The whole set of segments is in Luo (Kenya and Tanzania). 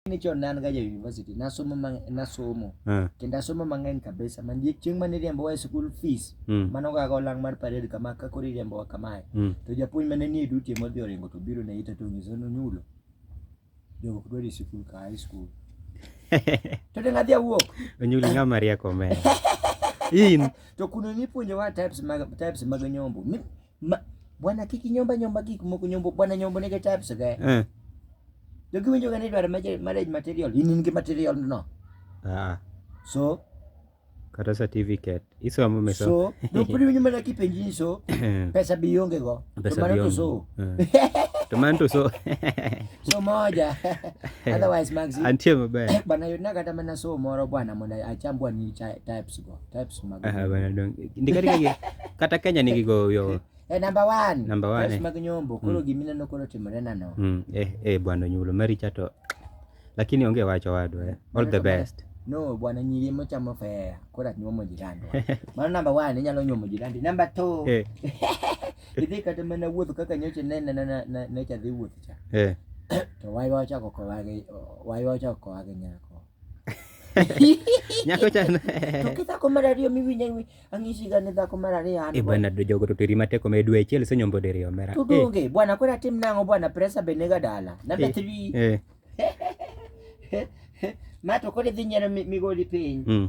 ni chon ne an ga ja university nasomo mang- nasomo Eh. kendo asomo mang'eny kabisa manie chieng' mane iriembowa e school fees Mm. mano gaga olang' mar parade kama ka koro iriembowa kamae Mm. to japuonj mane nie duty ema odhi oringo to biro ne ita to onyiso ni onyulo jogo ok dwar e sikul ka high school to deng' adhi awuok Onyulo ng'ama rieko omena. In. to kuno nipuonjowa types mag types mag nyombo Mi- Ma, bwana kiki nyomba nyomba gik moko nyombo bwana nyombo nige types ge. Eh. Jo giwinjo ga ni dwaro marriage material, in in gi material no. Ah. So kata certificate isomo meso so no pudi winyo mana kipenji ni so eh. pesa bi yonge go pesa to mano to so eh. to mano to so so moja otherwise max antie maber bana yuna kata mana so moro bwana mondo acham bwana ni types go types mag ah, bana dong ndika ndika kata Kenya nigi go yo eh number 1 number 1 types eh. mag nyombo koro mm. gimina no koro timore nano mm. eh eh bwana nyulo mari chato lakini onge wacho wadu eh all the best no bwana nyiri mochamo fea kora nyuomo jirani mano namba one inyalo nyuomo jirani namba two eh. idhi kata mana wuotho kaka nyoche nene necha dhi wuoth cha eh. to waywa ochako kowagi waywa ochako kowagi nyako nyako chana to kithako mar ariyo miwinjo ni ang'isi ga ni dhako mar ariyo an e bwana do jogo to teri matek omed dwe achiel se nyombo diriyo mera to donge eh. bwana kora tim nang'o bwana presa be nega dala number 3 eh. eh. ma to kore dhi nyero migoli piny mm.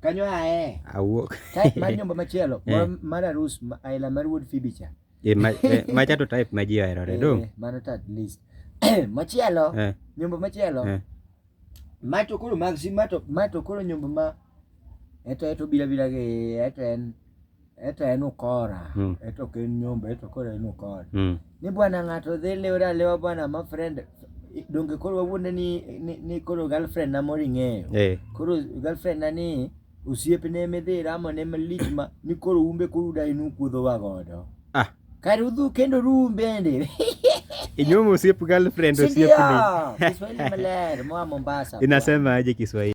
Kanyo ae. Awuok. Type mar nyombo machielo Eh. moro mar arus ma- aila mar wuod Phoebe cha. Eh, ma- eh, macha to type ma ji oherore do. Eh, Mano to at least. Machielo, Eh, nyombo machielo. eh. Ma to koro mag si ma to ma to koro nyombo ma eto eto bila bila gi eto en eto en ukora mm. eto ok en nyomba eto koro en ukora mm. ni bwana ng'ato dhi liwre aliwa bwana ma friend donge koro wawuonde ni, ni, ni koro girlfriend na moro ing'eyo hey. Eh. koro girlfriend na ni osiepne midhi ramo ne malich ma ni koro umbe koro uda in ukuodhowa godo ah. kar udhu kendo rum bende inyumu osiep girlfriend osiepni Kiswahili maler moa Mombasa inasema aje Kiswahili